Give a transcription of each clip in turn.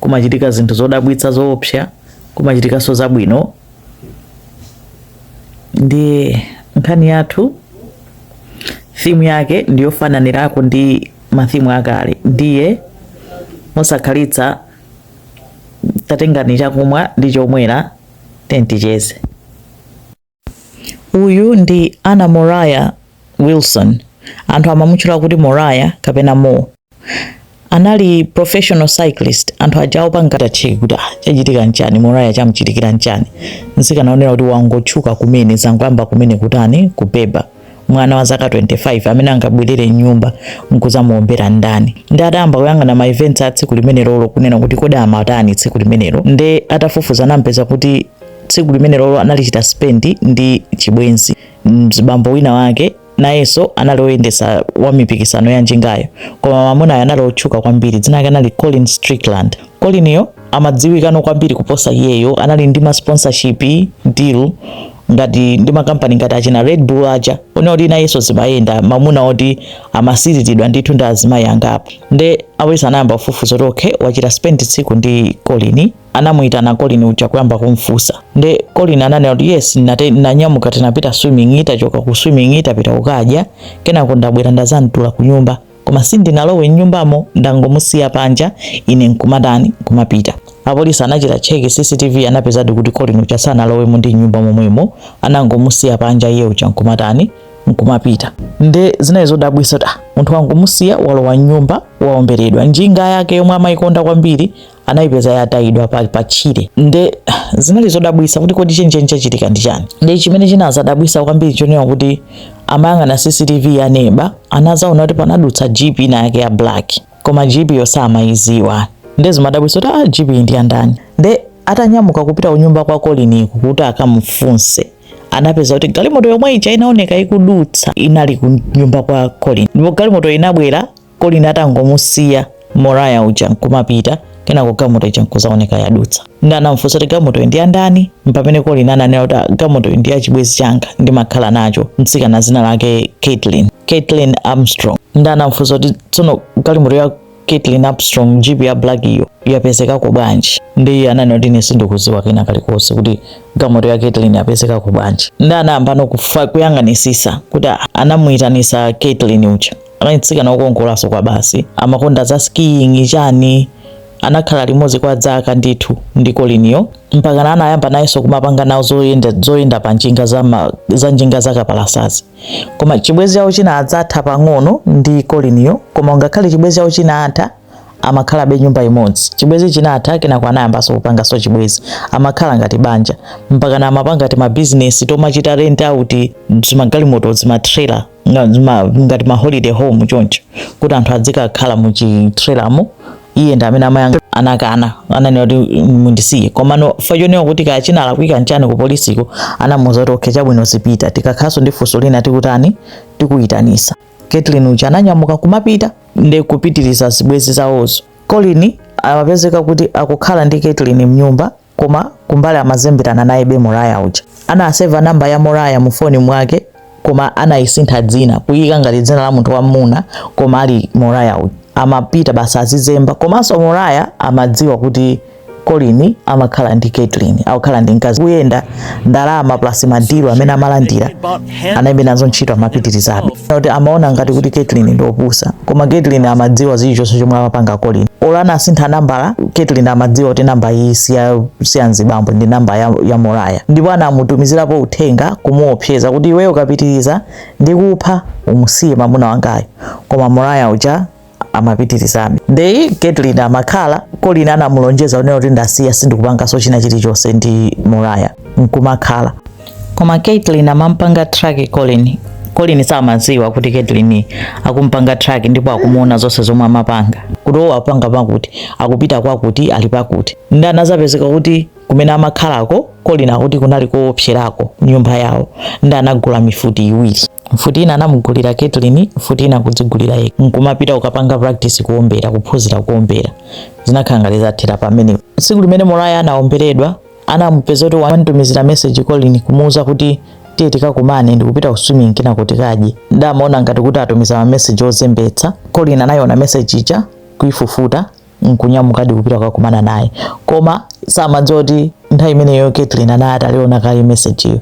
kumachitika zinthu zodabwitsa zoopsa kumachitikanso zabwino ndiye nkhani yathu thimu yake ndiyofananirako ndi mathimu akale ndiye mosakhalitsa tatengani chakumwa ndi chomwera tenticheze Uyu ndi Anna Moriah Wilson, anthu amamutchula kuti Moriah kapena Mo. Anali professional cyclist, anthu aja opanga tatcheki kuti ah, chachitika nchani, Moriah chamchitikira nchani. Mtsikana woonera kuti wangotchuka kumene, zangoyamba kumene kutani, kubeba. mwana wa zaka 25 amene angabwerere m'nyumba nkuzamuombera ndani nde atayamba kuyang'ana ma events a tsiku limenelolo kunena kuti kodi amatani tsiku limenelo nde atafufuza anampeza kuti tsiku limenelolo analichita spend ndi chibwenzi mzibambo wina wake nayenso anali oyendesa wa mipikisano ya njingayo koma mamunayo anali otchuka kwambiri dzina lake anali Colin Strickland Coliniyo amadziwikano kwambiri kuposa iyeyo anali ndi ma sponsorship deal ngati ndi makampani ngati achina red bull aja onena kuti nayenso zimayenda mamuna oti amasiriridwa ndithu ndi azimayi angapo nde apolisi anayamba kufufuza kuti okay wachita spend tsiku ndi colin anamuyitana colin uja kuyamba kumfusa nde colin ananena kuti yes nate- nanyamuka tinapita swimming titachoka ku swimming tinapita kukadya kenako ndabwera ndazamtula ku nyumba koma sindinalowe m'nyumbamo ndangomusiya panja ine nkumatani kumapita apolisi anachita cheki cctv anapezadi kuti colin uja sanalowemo ndi m'nyumba momwemo anangomusiya panja iye uja nkumatani nkumapita nde zinali zodabwisa kuti ah, munthu wangomusiya walowa m'nyumba waomberedwa njinga yake yomwe amayikonda kwambiri anayipeza yatayidwa pa tchire nde zinali zodabwisa kuti kodi chenicheni chachitika ndi chani nde chimene chinazadabwisa kwambiri chonena kuti amayang'ana cctv ya neba anazaona kuti panadutsa jeep ina yake ya black koma jeepyo samayiziwa nde zimadabwisa kuti ah, jeep ndi yandani nde atanyamuka kupita kunyumba kwa colin kuti akamfunse anapeza kuti galimoto yomwe ija inaoneka ikudutsa inali ku nyumba kwa colin ndipo galimoto inabwera Colin atangomusiya Moriah uja nkumapita kenako gamoto ija nkuzaoneka yadutsa nde anamfunsa kuti gamotoyo ndi yandani mpamene Colin ananena kuti "Ah, gamotoyo ndi ya chibwenzi changa ndimakhala nacho mtsikana zina lake Caitlin Caitlin Armstrong nde anamfunsa kuti tsono galimoto ya Caitlin Armstrong jeep ya black iyo yapezekako bwanji nde ananena kuti ine sindikuziwa kena kalikonse kuti gamoto ya Caitlin yapezekako bwanji nde anayambano kufa- kuyang'anisisa kuti "Ah, anamuyitanisa Caitlin uja anali mtsikana wokongolanso kwabasi amakonda za skiing chani anakhala limodzi kwa dzaka ndithu ndi Coliniyo mpakana anayamba nayenso kumapanga nawo zoyenda, zoyenda pa njinga za, ma, za njinga za kapalasazi koma chibwenzi chawo chinadzatha pang'ono ndi Coliniyo koma ngakhale chibwenzi chawo chinatha amakhalabe nyumba imodzi chibwenzi chinatha kenako anayambanso kupanganso chibwenzi amakhala ngati banja mpakana amapanga timabizinesi tomachita rent out zimagalimoto zimatrela nga- zima- ngati ma holiday home choncho kuti anthu adzikakhala mu chitrelamo iye nde mene amayankha anakana ananena kuti "Mm, mundisiye komano mwachoona kuti kaya chinalakwika nchani ku polisiko anamuuza kuti okay chabwino zipita tikakhalanso ndi funso lina tikutani tikuyitanitsa Caitlin uja ananyamuka kumapita ndi kupitiriza zibwenzi zawozo Colin amapezeka kuti akukhala ndi Caitlin mnyumba koma kumbali amazemberana nayebe Moriah uja anaseva namba ya Moriah mu foni mwake koma anayisintha dzina kuyika ngati dzina la munthu wamuna koma ali Moriah uja amapita basi azizemba komanso Moriah amadziwa kuti Colin amakhala ndi Caitlin akukhala ndi mkazi kuyendera ndalama plus madilu amene amalandira anaibe nazo ntchito amapitirizabe kuti amaona ngati kuti Caitlin ndi opusa koma Caitlin amadziwa zilichonse chomwe amapanga Colin olo anasintha nambala Caitlin amadziwa kuti namba iyi si ya mzibambo ndi namba ya, ya Moriah ndipo anamutumizirapo uthenga kumuopseza kuti iweyo ukapitiriza ndikupha umusiye mamuna wangayo koma Moriah uja amapitirizabe nde Caitlin amakhala Colin anamulonjeza kunena kuti ndasiya sindikupanganso china chilichonse ndi Moriah nkumakhala koma Caitlin amampanga track Colin Colin samadziwa kuti Caitlin akumpanga track ndipo akumuona zonse zomwe amapanga kuti owo apanga pakuti akupita kwakuti ali pakuti nde anazapezeka kuti Kumene amakhalako, Colin akuti kunali koopserako nyumba yawo nde anagula mifuti iwiri. Mfuti ina anamugulira Caitlin, mfuti ina kudzigulira yekha. Nkumapita kukapanga practice kuombera, kuphunzira kuombera. Zinakhala ngati zathera pamene. Tsiku limene Moriah anaomberedwa, anamupeza kuti wamtumizira message Colin kumuuza kuti tiye tikakumane ndikupita ku swimming kenako tikadye. Nde amaona ngati kuti atumiza ma message ozembetsa. Colin anaiona message ija kuifufuta n'kunyamukadi kupita kukakumana naye koma samadziwa kuti nthawi imeneyo Caitlin anali ataliona kale mesejiyo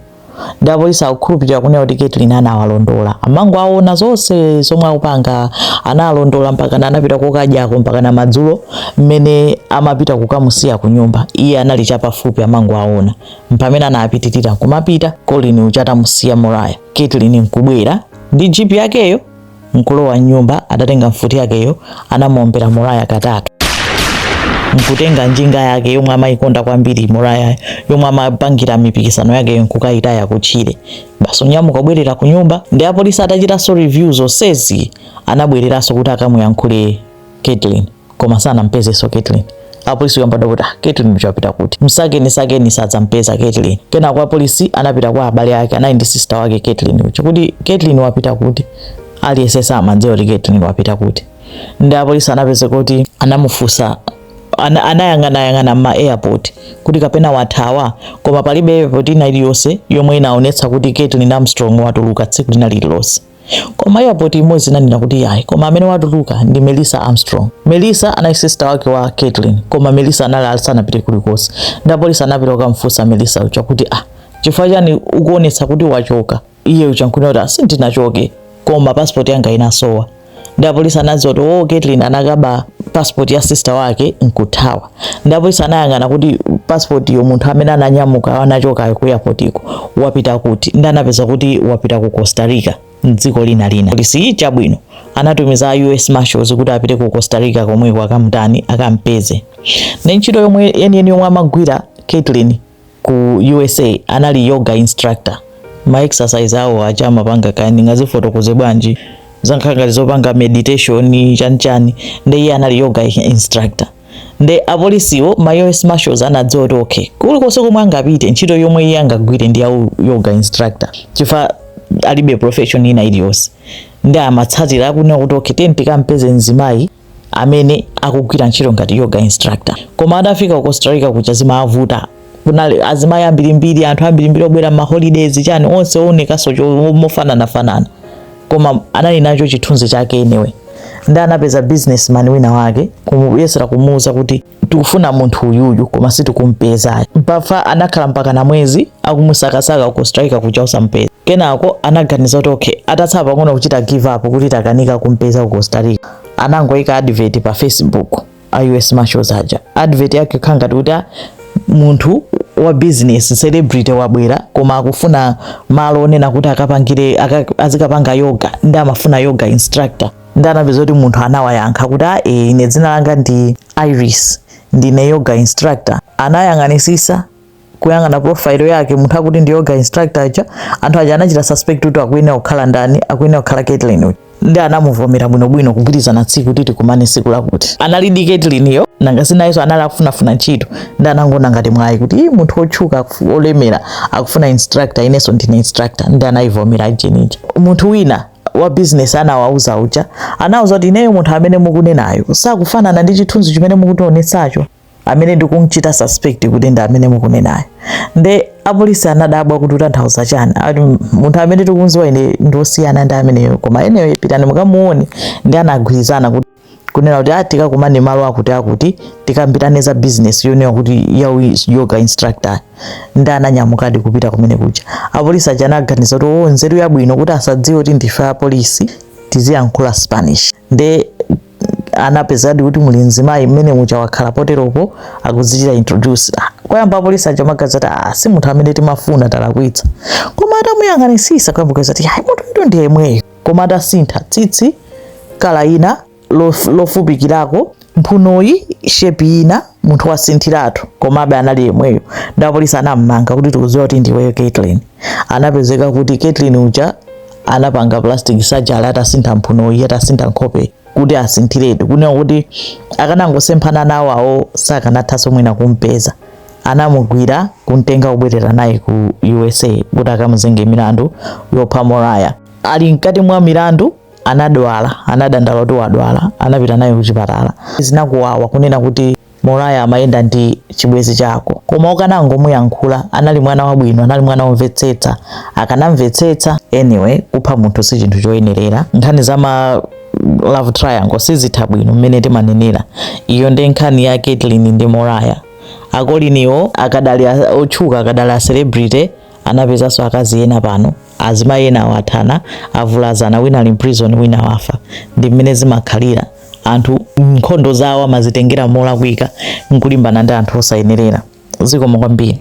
nde apolisi akukhulupirira kunena kuti Caitlin anawalondola amangowaona zonse zomwe akupanga analondola mpakana anapita kokadyako mpakana madzulo mmene amapita kukamusiya ku nyumba iye anali chapafupi amangowaona mpamene anapitirira kumapita Colin uja atamusiya Moriah Caitlin nkubwera ndi jipi yakeyo n'kulowa m'nyumba, adatenga mfuti yakeyo anamuombera Moraya katatu n'kutenga njinga yake yomwe amayikonda kwambiri Morayayo yomwe amapangira mipikisano yakeyo n'kukayitaya kutchire basi kunyamuka kubwerera ku nyumba. Ndi apolisi atachitanso review zonsezi anabwereranso kuti akamuyankhule Caitlyn koma sanampezenso Caitlyn apolisi kuyamba kuti ah, Caitlyn uja wapita kuti msakeni sakeni osampeza Caitlyn kenako apolisi anapita kwa abale ake anali ndi sister wake Caitlyn uja kuti Caitlyn wapita kuti aliyense samadziwa kuti Caitlyn wapita kuti ndi apolisi anapeza kuti anamufunsa ana, anayang'anayang'ana mma airport kuti kapena wathawa koma palibe airport ina iliyonse yomwe inaonetsa kuti Caitlyn Armstrong watuluka tsiku lina lililonse koma airport imodzi inanena kuti yayi koma amene watuluka ndi melissa armstrong melissa anali sister wake wa caitlin koma melissa anali asanapite kulikonse ndi apolisi anapita kukamfunsa melissa uja kuti ah chifukwa chani ukuonetsa kuti wachoka iye uja nkunena kuti ah sindinachoke koma passport yanga inasowa ndi apolisi anadziwa kuti wo oh, caitlin anakaba passport ya sister wake nkuthawa nde apolisi anayang'ana kuti passportyo munthu amene ananyamuka anachokayo ku airportko wapita kuti ndanapeza kuti wapita ku Costa Rica mdziko lina lina polisi chabwino anatumiza a US Marshals kuti apite ku Costa Rica komweko akamutani akampeze ndi ntchito yomwe yeniyeni yomwe amagwira Caitlin ku usa anali yoga instructor ma exercise awo aja amapanga kaya ndingazifotokoze bwanji zankhala ngati zopanga meditation chanichani nde iye anali yoga instructor nde apolisiwo ma us marshals anadziwa kuti okay kulikonse komwe angapite ntchito yomwe iye angagwire ndi ya u- yoga instructor chifukwa alibe profession ina iliyonse ndi amatsatira kunena kuti okay tiyeni tikampeze mzimayi amene akugwira ntchito ngati yoga instructor koma atafika ku Costa Rica kuja zimavuta kunali azimayi ambirimbiri anthu ambirimbiri obwera ma holidays chani onse oonekaso mofanana fanana koma anali nacho chithunzi chake anyway ndi anapeza businessman wina wake kumuyesera kumuuza kuti tikufuna munthu uyuyu koma sitikumpeza mpaka anakhala mpaka na mwezi akumusakasaka ku Costa Rica kuja osampeza kenako anaganiza kuti okay atatsala pang'ono kuchita give up kuti takanika kumpeza ku Costa Rica anangoika advert pa Facebook a US Marshals aja advert yake kukhala ngati kuti ah, munthu wa business celebrity wabwera koma akufuna malo onena kuti akapangire azikapanga yoga ndi amafuna yoga instructor ndi anapeza kuti munthu anawayankha kuti a e, ine dzina langa ndi iris ndine yoga instructor anayang'anisisa kuyang'ana profile yake munthu akuti ndi yoga instructor uja anthu aja anachita suspect kuti akuyenera kukhala ndani akuyenera kukhala Caitlyn uyu ndi anamuvomera bwinobwino kugwirizana tsiku kuti tikumane tsiku lakuti analidi Caitlynyo nanga si nayenso anali akufunafuna ntchito ndi anangoona ngati mwayi kuti ii munthu wotchuka olemera akufuna instructor inenso ndine instructor ndi anayivomera ajenti uja munthu wina wa business anawauza uja anawauza kuti ineyo munthu amene mukunenayo sakufanana ndi chithunzi chimene mukutionetsacho amene ndikumchita suspect kuti ndi amene mukunenayo nde apolisi anadabwa kuti utanthauza chani ati munthu amene tikumziwa ine ndiosiyana ndi ameneyo koma eniyo pitani mukamuone nde anagwirizana kuti kunena kuti ah, tikakumane malo akuti akuti tikambirane za business yonena kuti ya yoga instructor nde ananyamukadi kupita kumene kuja apolisi aja anaganiza kuti oh, nzeru yabwino kuti asadziwe kuti ndife apolisi tiziyankhula spanish nde anapezadi kuti muli mzimayi mmene muja wakhala poteropo akuzichita introduce ah, koyamba apolisi aja amaganiza ati ah, si munthu amene timafuna talakwitsa koma atamuyang'anitsitsa kuyamba kuuza ati munthu uyu ndi yemweyo koma atasintha tsitsi color ina lof- lofupikirako mphunoyi shape ina munthu wasinthiratu komabe anali yemweyo nde apolisi anammanga kuti tikudziwa kuti ndiweyo Kaitlin anapezeka kuti Kaitlin uja anapanga plastic surgery atasintha mphunoyi atasintha nkhope kuti asinthiretu kunena kuti akanangosemphana nawo awo sakanathanso mwina kumpeza anamugwira kumtenga kubwerera naye ku usa kuti akamuzenge milandu yopha Moriah ali mkati mwa milandu anadwala anadandaula kuti wadwala anapita naye kuchipatala zinakuwawa kunena kuti Moriah amayenda ndi chibwezi chako koma ukanangomuyankhula anali mwana wabwino anali mwana womvetsetsa akanamvetsetsa anyway kupha munthu si chinthu choyenerera nkhani za ma love triangle sizitha bwino mmene timanenera iyo ndi nkhani ya Kaitlin ndi Moriah a Colin-wo akadali otchuka akadali a celebrity anapezanso akazi ena pano azimayi enawo athana avulazana wina ali mprison wina wafa ndi mmene zimakhalira anthu nkhondo zawo amazitengera molakwika nkulimbana ndi anthu osayenerera zikomo kwambiri